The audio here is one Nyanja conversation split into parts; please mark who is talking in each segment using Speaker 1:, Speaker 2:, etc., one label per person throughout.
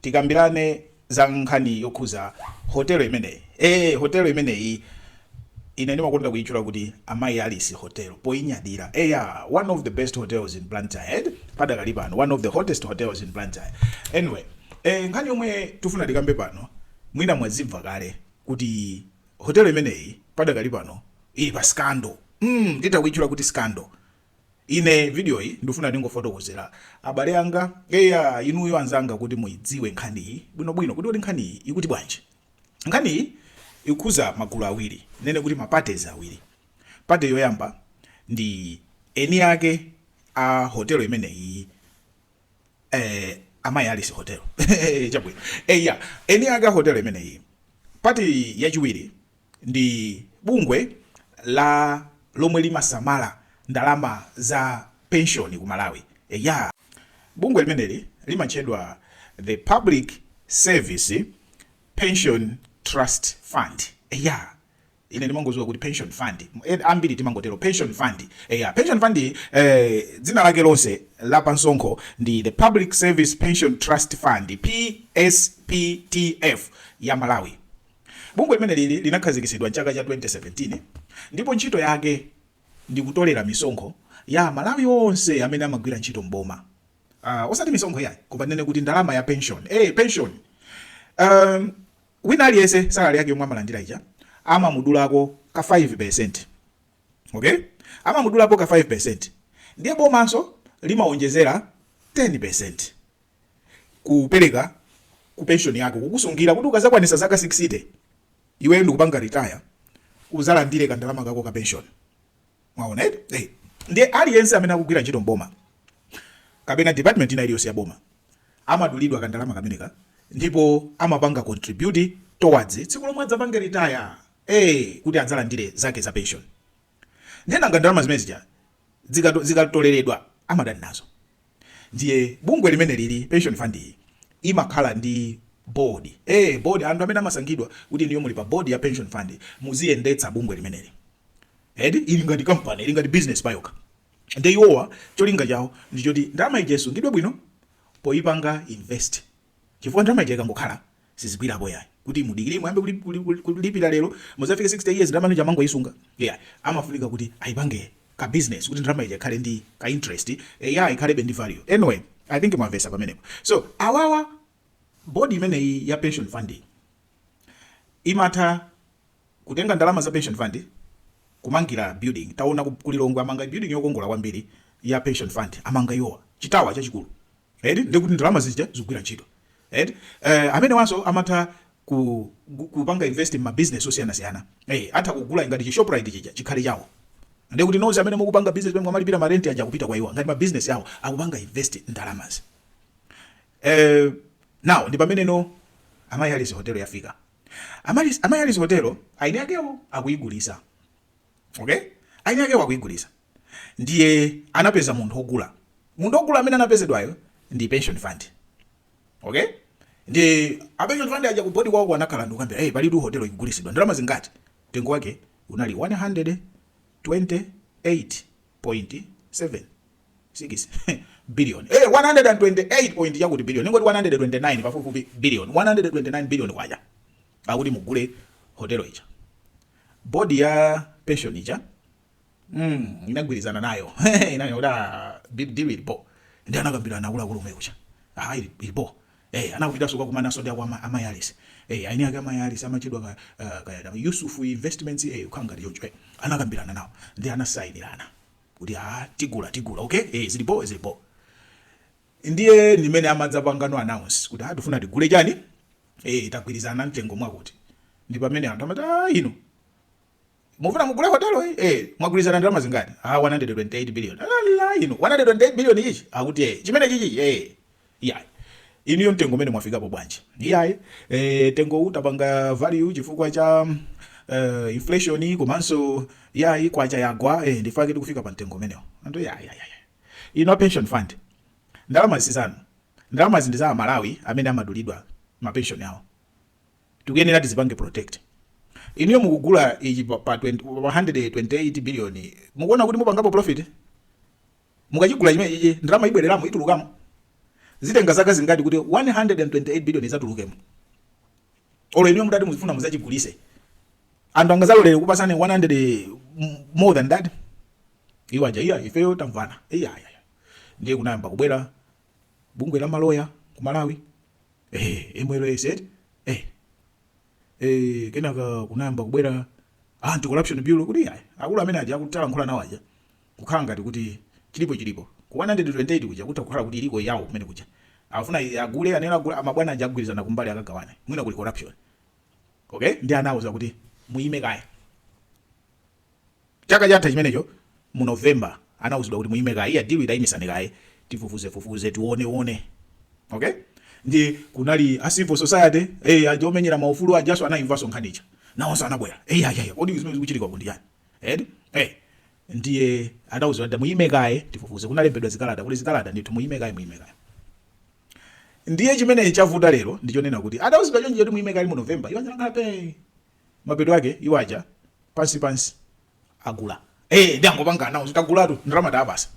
Speaker 1: Tikambirane za nkhani yokhuza hotelo imeneyi. Eee hotelo imeneyi ine ndimakonda kuyitchula kuti Amaryllis Hotel poyinyadira. Eya one of the best hotels in Blantyre eti padakali pano one of the hottest hotels in Blantyre. Anyway ee nkhani yomwe tifuna tikambe pano mwina mwazimva kale kuti hotelo imeneyi padakali pano ili pa scandal mm titha kuyitchula kuti scandal. Ine video iyi ndufuna ndingofotokozera abale anga eya inuyo anzanga kuti muidziwe nkhani iyi bwino bwino kuti kuti nkhani iyi ikuti bwanji. Nkhani iyi ikukhuza magulu awiri nene kuti maparties awiri. Party yoyamba ndi eni ake a hotelo imeneyi eh Amaryllis hotel chabwino eya eni ake a hotelo imeneyi. Party yachiwiri ndi bungwe lomwe limasamala ndalama za penshoni ku Malawi. Eya, bungwe limeneli limatchedwa The Public Service Pension Trust Fund. Eya, ine ndimangoziwa kuti pension fund, ambiri timangotero pension fund. Eya, pension fund eh, dzina lake lonse la pansonkho ndi The Public Service Pension Trust Fund, PSPTF ya Malawi. Bungwe limeneli linakhazikitsidwa m'chaka cha 2017 ndipo ntchito yake ndi kutolera misonkho ya a Malawi onse amene amagwira ntchito m'boma. Uh, osati misonkho yayi, koma tinene kuti ndalama ya pension. Eh, pension. Um, wina aliyense salary yake yomwe amalandira ija amamudulako ka 5%. Okay? Amamudulako ka 5%. Ndiye bomanso limaonjezera 10%. kupereka ku pension yako kukusungira kuti ukazakwanisa zaka 60 iwe ndikupanga retire uzalandire ka ndalama kako ka pension mwaona eti eh ndiye aliyense amene akugwira ntchito mboma kapena department ina iliyonse ya boma amadulidwa ka ndalama kameneka ndipo amapanga contribute towards tsiku lomwe adzapange retire eh kuti adzalandire zake za pension nde nanga ndalama zimene zija dzikato zikatoleledwa amatani nazo ndiye bungwe limeneli ili pension fund iyi imakhala ndi board eh board anthu amene amasankhidwa kuti inuyo muli pa board ya pension fund muziyendetsa bungwe limeneli eti ili ngati company ili ngati business payokha ndiye iwowa cholinga chawo ndichoti ndalama ija isungidwe bwino poyipanga invest chifukwa ndalama ija ikangokhala sizigwirapo iyayi kuti mudikire muyambe kuli, kuli, kuli, kulipira lero muzafike 60 years ndalama ija amangoyisunga iyayi amafunika kuti ayipange ka business kuti ndalama ija ikhale ndi ka interest iyayi ikhalebe ndi value anyway i think mwamvesa pamenepo so awawa board imeneyi ya pension fund imatha kutenga ndalama za pension fund kumangira building taona ku Lilongwe amanga building yokongola kwambiri ya pension fund amanga iwowa chi tower chachikulu eti ndekuti ndalama zija zikugwira ntchito eti eh, amenewanso amatha ku, ku- kupanga invest mma business osiyanasiyana eh, atha kugula ngati chi shoprite chija chikhale chawo ndekuti nonse amene mukupanga business pamene mwamalipira ma rent aja akupita kwa iwo ngati ma business awo akupanga invest ndalamazi eh, now ndi pamene no Amaryllis hotel yafika Ama- Amaryllis hotel eni akewo akuyigulisa okay eni akewo akuyigulisa ndiye anapeza munthu ogula munthu ogula amene anapezedwayo ndi pension fund okay ndi a pension fund aja ku board kwawo anakhala ndikukambirana hey palitu hotel ikugulisidwa ndalama zingati mtengo wake unali 128.7 six billion eh 128 point yakuti billion ningoti 129 pafupifupi billion 129 billion kwacha akuti mugule hotel ija bodi ya pension ija mm inagwirizana nayo inanena kuti ah big deal ili bo ndi anakambirana akuluakulu omwe kucha ah ili ili bo eh anakupitanso kukakumananso ndi akwa Amaryllis eh eni ake Amaryllis amatchedwa ka ah, kaya na Yusuf Investments eh kangati choncho eh anakambirana nawo ndi anasainirana kuti ah tigula tigula okay eh zili bo zili bo ndiye ndimene amadzapangano announce kuti ah tifuna tigule chani eh tagwirizana mtengo mwakuti ndi pamene anthu amati ah inu mufuna mugule hotelo iyi eh mwagwirizana ndalama zingati ah 128 billion ala inu 128 billion ichi akuti eh chimenechichi eh yeah inuyo mtengo umene mwafikapo bwanji iyayi eh mtengo titapanga value chifukwa cha uh, inflation komanso yayi kwacha yagwa eh ndichifukwa chake tikufika pa mtengo umenewo anthu yayi yayi inu pension fund ndalama zisizanu ndalama zi ndi za aMalawi amene amadulidwa ma pension yawo tikuyenera tizipange protect. Inuyo mukugula ichi pa 128 billion mukuona kuti mupangapo profit? Mukachigula chimenechichi ndalama ibwereramo itulukamo? Zitenga zaka zingati kuti 128 billion izatulukemo? Olo inuyo mutati muzifuna muzachigulise anthu angazalolere kukupasani 100 more than that? Iwo aja iya ifeyo tamvana iya ndiye kunayamba kubwera bungwe la maloya ku malawi eeh mls eti eeh eeh kenaka kunayamba kubwera anti corruption bureau kuti iyayi akulu amene aja akutalankhula nawo aja kukhala ngati kuti chilipo chilipo ku 128 kuja kutha kukhala kuti iliko yawo kumene kuja afuna i- agule anene agule amabwana aja agwirizana kumbali akagawane mwina kuli corruption okay ndi anawauza kuti muyime kaye Chaka chatha chimenecho mu November anauzidwa kuti muime kaye. Iya deal itaimisani kaye. Tifufuzefufuze tioneone. Okay? Ndi kunali a civil society, eh aja omenyera maufulu ajaso anaimvaso nkhani ija. Nawonso anabwera. Eh ya ya. Kodi zimene zikuchitika ku ndi chani? Eh? Eh. Ndiye anauzidwa kuti muime kaye tifufuze. Kunalembedwa zikalata, kuli zikalata ndithu muime kaye muime kaye. Ndiye chimene chavuta lero ndichonena kuti adauzidwa chonje kuti muime kaye mu November. Iwo anakhala phee. mapeto ake iwo aja pansi pansi agula ee ndi angopanga announce tagulatu ndalama tawapatsa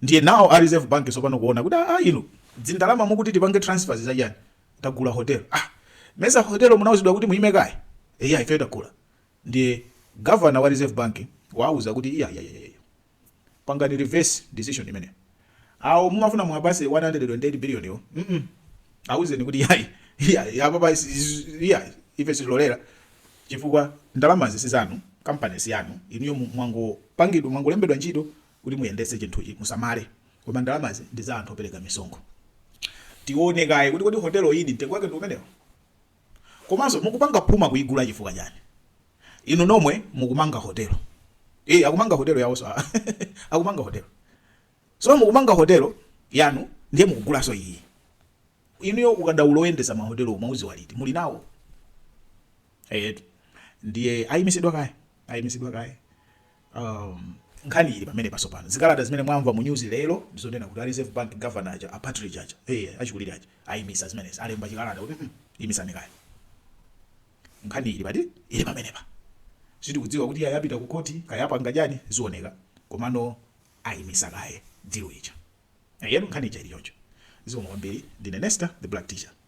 Speaker 1: ndiye nawo a reserve bank tsopano kuona kuti a inu dzindalama mukuti tipange transfers za chani tagula hotel ah mesa hotel munauzidwa kuti muime kaye eya ife tagula ndiye governor wa reserve bank wauza kuti iya iya iya pangani reverse decision imeneyo awo mumafuna muwapase 128 billion yo mm awuzeni kuti yayi yayi apapa yayi ife sitilolera chifukwa ndalamazi sizanu kampani siyanu inuyo mwangopangidwa mwangolembedwa ntchito kuti muyendetse chinthuchi musamale koma ndalamazi ndi za anthu opereka misonkho tione kaye kuti kodi hotelo iyi ndi mtengo wake ndi umenewo Komanso mukupanga phuma kuigula chifukwa chani? Inu nomwe mukumanga hotel. Ee akumanga hotel yawonso aah akumanga hotel. So mukumanga hotel yanu ndiye mukugulanso iyi. Inuyo ukadaulo oyendetsa ma hotelowo mwaudziwa liti? Muli nawo? Eyetu ndiye ayimitsidwa kaye ayimitsidwa kaye. um, nkhani ili pamenepa. Sopano zikalata zimene mwamva mu news lero ndizonena kuti a reserve bank governor aja a Partridge aja hey, eh, achikulire aja ayimisa zimenezi alemba chikalata kuti mm, imisani kaye nkhani ili pati ili pamenepa sitikudziwa kuti kaya apita ku koti kaya apanga chani zioneka komano ayimisa kaye deal ija eya nkhani ija ili choncho zikomo kwambiri ndine nesta the black teacher